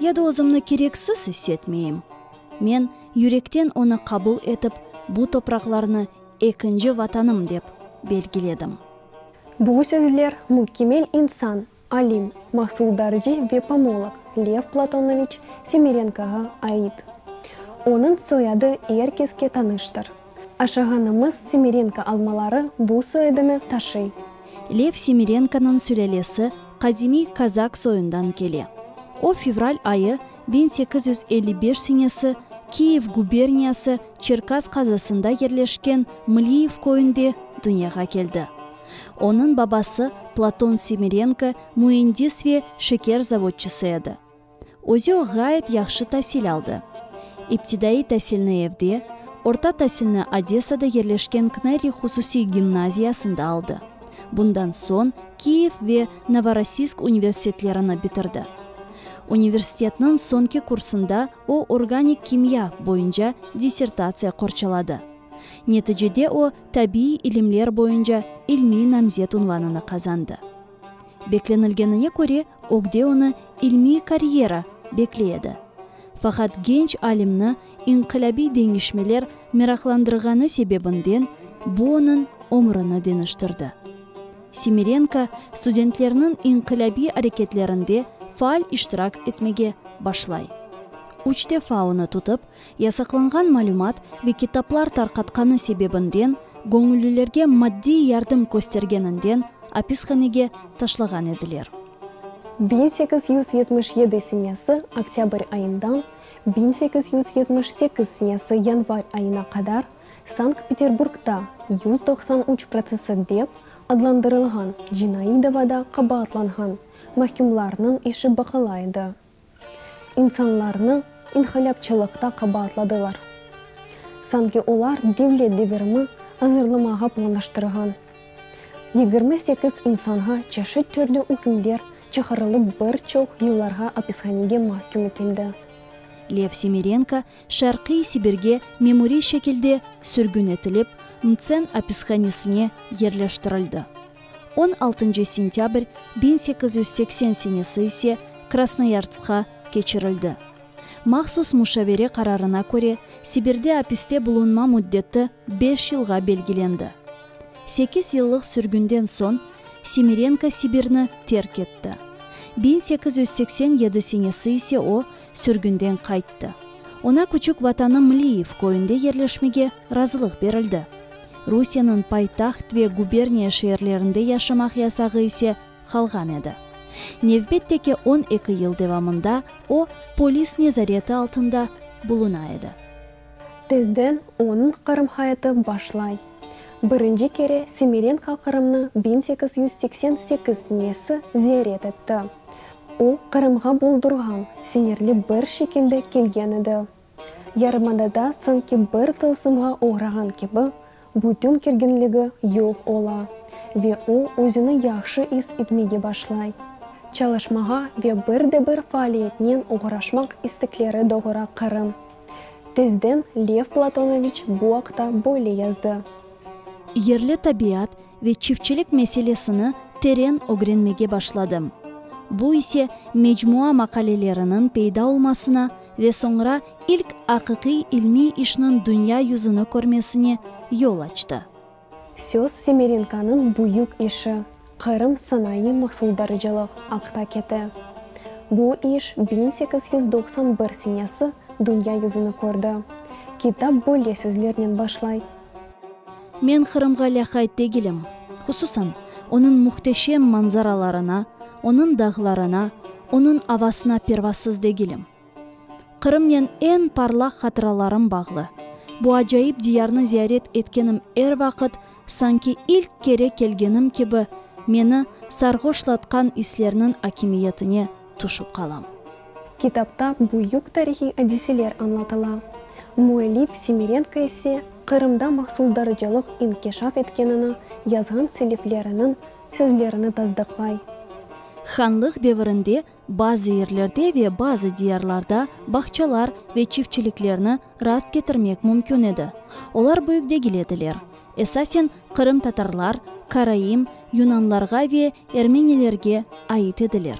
Ya da özümni kereksiz issetmeyim. Men yürekten onı qabul etip, bu topraqlarnı ekinci vatanım dep belgiledim. Bu sözler mükemmel insan, alim, mahsuldarcı ve pomolog Lev Platonoviç Semerenkoğa ait. Onıñ soyadı er keske tanıştır. Aşağanımız Semirenko almaları bu soyadını taşıy. Lev Semirenkonıñ sülâlesi qadimiy kazak soyundan kele. O, fevral ayı biñ sekiz yüz elli beş senesi Kiyev guberniyası Çerkaz qazasında yerleşken Mliyev köyünde dünyağa keldi. Onıñ babası Platon Semirenko müendis ve şeker zavodçısı edi. Özü ğayet yahşı tasil aldı. İptidaiy tasilni evde, orta tasilni Odesada yerleşken Kneri hususiy gimnaziyasında aldı. Bundan soñ Kiyev ve Novorossiysk universitetlerini bitirdi. Universitetniñ soñki kursında o organik kimya boyunca dissertatsiya qorçaladı. Neticede o tabiiy ilimler boyunca ilmiy namzet unvanını qazandı. Beklenilgenine köre, ögde onı ilmiy karyera bekley edi. Faqat genç alimni inqilâbiy deñişmeler meraqlandırğanı sebebinden bu onıñ ömrüni deñiştirdi. Semirenko studentlerniñ inqilâbiy areketlerinde faal iştirak etmege başlay. Üç defa onı tutıp, Yasaqlanğan malümat ve kitaplar tarqatqanı sebebinden, göñüllilerge maddiy yardım köstergeninden apishanege taşlağan ediler. Biñ sekiz yüz yetmiş yedi senesi oktâbr ayından biñ sekiz yüz yetmiş sekiz senesi yanvar ayına qadar Sankt-Peterburgda yüz doqsan üç protsessi dep adlandırılğan cinaiy davada qabaatlanğan mahkümlarnıñ işi baqıla edi. İnsanlarnı inqilâpçılıqta qabaatladılar. Sanki olar devlet devirimi azırlamağa planlaştırğan. Yigirmi sekiz insanğa çeşit türlü ükümler çıqarılıp bir çoq yıllarğa apishanege mahküm etildi. Lev Semerenko Şarqiy Sibirge memuriy şekilde sürgün etilip, Mtsen apishanesine yerleştirildi. On altıncı sentâbr biñ sekiz yüz seksen senesi ise Krasnoyarskqa keçirildi. Mahsus muşavere qararına köre, Sibirde apiste bulunma müddeti beş yılğa belgilendi. Sekiz yıllıq sürgünden soñ Semirenko Sibirni terk etti. Biñ sekiz yüz seksen yedi senesi ise o, sürgünden qayttı. Oña küçük vatanı Mliyiv köyünde yerleşmege razılıq berildi. Rusiyeniñ paytaht ve guberniya şeerlerinde yaşamaq yasağı ise qalğan edi. Nevbette ki, on eki yıl devamında o, polis nezareti altında buluna edi. Tezden onıñ Qırım hayatı başlay. Birinci kere Semerenko Qırımnıñ biñ sekiz yüz seksen sekiz nesi ziyaret etti. O, Qırımğa boldurğan, siñirli bir şekilde kelgen edi. Yarımadada sanki bir tılsımğa oğrağan kibi, bütün kerginligi yoq ola ve o, özüni yahşı is etmege başlay. Çalışmağa ve bir de bir faaliyetnen oğraşmaq istekleri doğura Qırım. Tezden Lev Platonoviç bu aqta böyle yazdı. Yerli tabiat, ve çiftçilik meselesini teren ögrenmege başladım. Bu ise mecmua maqaleleriniñ peyda olmasına ve soñra ilk aqiqiy ilmiy işniñ dünya yüzüni körmesine yol açtı. Söz Semerenkonıñ büyük işi, Qırım sanayı mahsuldarıcılıq, aqta kete. Bu iş biñ sekiz yüz doqsan bir senesi dünya yüzüni kördi. Kitap böyle sözlernen başlay. Men Qırımğa lâqayd degilim. Hususan, onıñ muhteşem manzaralarına, onıñ dağlarına, onıñ avasına pervasız degilim. Qırımnen eñ parlaq hatıralarım bağlı. Bu acayip diyarnı ziyaret etkenim er vaqıt, sanki ilk kere kelgenim kibi, meni sarğoşlatqan islerniñ akimiyetine, tüşip qalam. Kitapta büyük tarihiy adiseler añlatıla. Müellif Simirenko ise Qırımda mahsuldarıcılıq inkişaf etkenini yazğan selefleriniñ sözlerini tasdıqlay. Hanlıq devirinde bazı yerlerde ve bazı diyarlarda bağçalar ve çiftçiliklerni rast ketirmek mümkün edi, olar büyük degil ediler. Esasen qırımtatarlar, karaim, yunanlarğa ve ermenilerge ait ediler.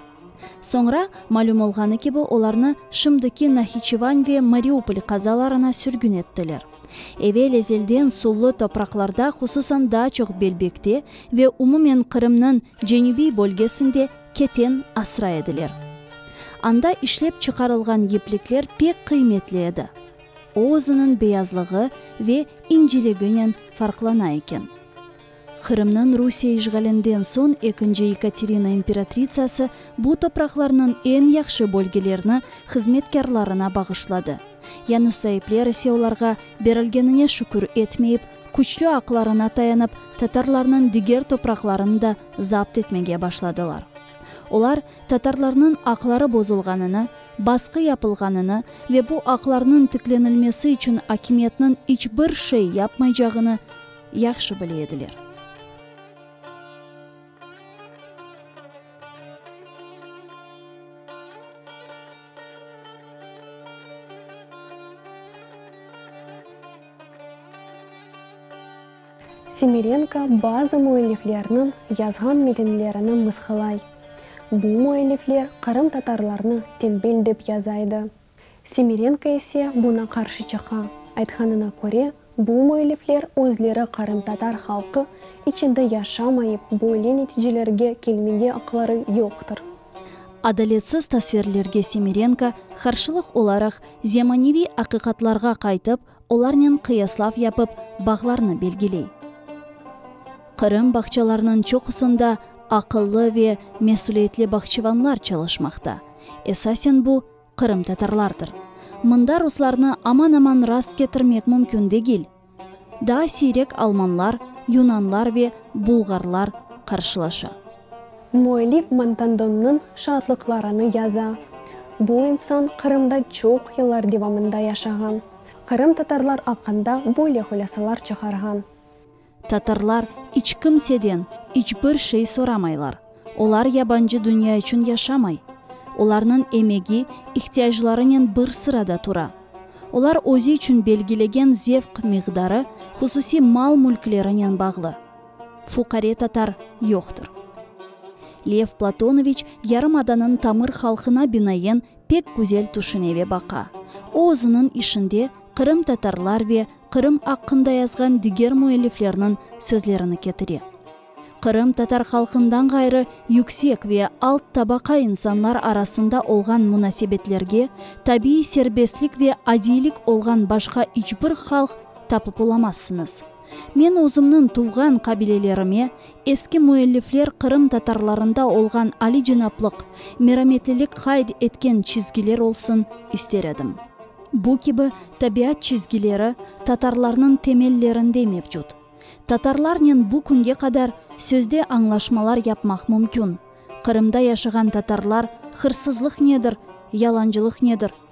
Soñra, malüm olğanı kibi, olarnı şimdiki Nahiçevan ve Mariupol qazalarına sürgün ettiler. Evel ezelden suvlı topraqlarda, hususan daa çoq Belbekte ve umumen Qırımnıñ cenübiy bölgesinde keten asra ediler. Anda işlep çıqarılğan yiplikler pek qıymetli edi. O özüniñ beyazlığı ve inciliginen farqlana eken. Qırımnıñ Rusiye işğalinden soñ ekinci Yekaterina imperatritsası bu topraqlarnıñ eñ yahşı bölgelerini hızmetkârlarına bağışladı. Yani saipler ise olarğa berilgenine şükür etmeyip, küçlü aqlarına tayanıp, tatarlarnıñ diger topraqlarını da zapt etmege başladılar. Olar. tatarlarnıñ aqları bozulğanını, basqı yapılğanını ve bu aqlarnıñ tiklenilmesi içün akimiyetniñ iç bir şey yapmaycağını yahşı bile ediler. Semerenko bazı müelliflerniñ yazğan metinlerini mısqılay. Bu müellifler qırımtatarlarnı tenbel dep yaza edi. Semerenko ise buña qarşı çıqa, aytqanına köre, bu müellifler özleri qırımtatar halqı içinde yaşamayıp, böyle neticelerge kelmege aqları yoqtır. Adaletsiz tasvirlerge Semerenko qarşılıq olaraq zemaneviy aqiqatlarğa qaytıp, Olarnen qıyaslav yapıp, bağlarnı belgiley. Qırım bağçalarınıñ çoqusında aqıllı ve mesüliyetli bağçıvanlar çalışmaqta. Esasen bu, qırımtatarlardır. Mında ruslarnı aman-aman rast ketirmek mümkün degil. Daa siyrek almanlar, yunanlar ve bulğarlar qarşılaşa. Müellif Montandonnıñ şaatlıqlarını yaza. Bu insan Qırımda çoq yıllar devamında yaşağan. Qırımtatarlar aqqında böyle hulâsalar çıqarğan. Tatarlar iç kimseden iç bir şey soramaylar. Olar yabancı dünya içün yaşamay. Olarnıñ emegi, ihtiyaclarınen bir sırada tura. Olar özü içün belgilegen zevq miqdarı hususiy mal-mülklerinen bağlı. Fuqare tatar yoqtır. Lev Platonoviç yarımadanıñ tamır halqına binayen pek güzel tüşüne ve baqa. O özüniñ işinde qırımtatarlar ve Qırım aqqında yazğan diger müelliflerniñ sözlerini ketire. Qırım tatar halqından ğayrı yüksek ve alt tabaqa insanlar arasında olğan munasebetlerge tabiiy serbestlik ve adiylik olğan başqa iç bir halq tapıp olamazsıñız. Men özümniñ tuvğan qabilelerime, eski müellifler Qırım tatarlarında olğan aliycenaplıq, merametlilik qayd etken çizgiler olsun ister edim. Bu kibi tabiat çizgileri tatarlarnıñ temellerinde mevcut. Tatarlarnen bu künge qadar sözde añlaşmalar yapmaq mümkün, Qırımda yaşağan tatarlar hırsızlıq nedir, yalancılıq nedir,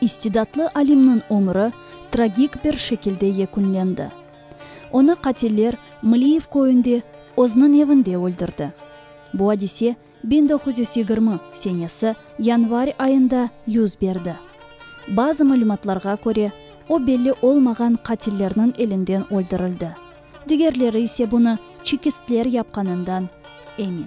İstidatlı alimniñ ömüri tragik bir şekilde yekünlendi. Onı qatiller Mliyev köyünde, özüniñ evinde öldürdi. Bu adise Biñ doquz yüz yigirmi senesi yanvar ayında yüz berdi. Bazı malümatlarğa köre, o belli olmağan qatillerniñ elinden öldürildi, digerleri ise bunı çekistler yapqanından emin.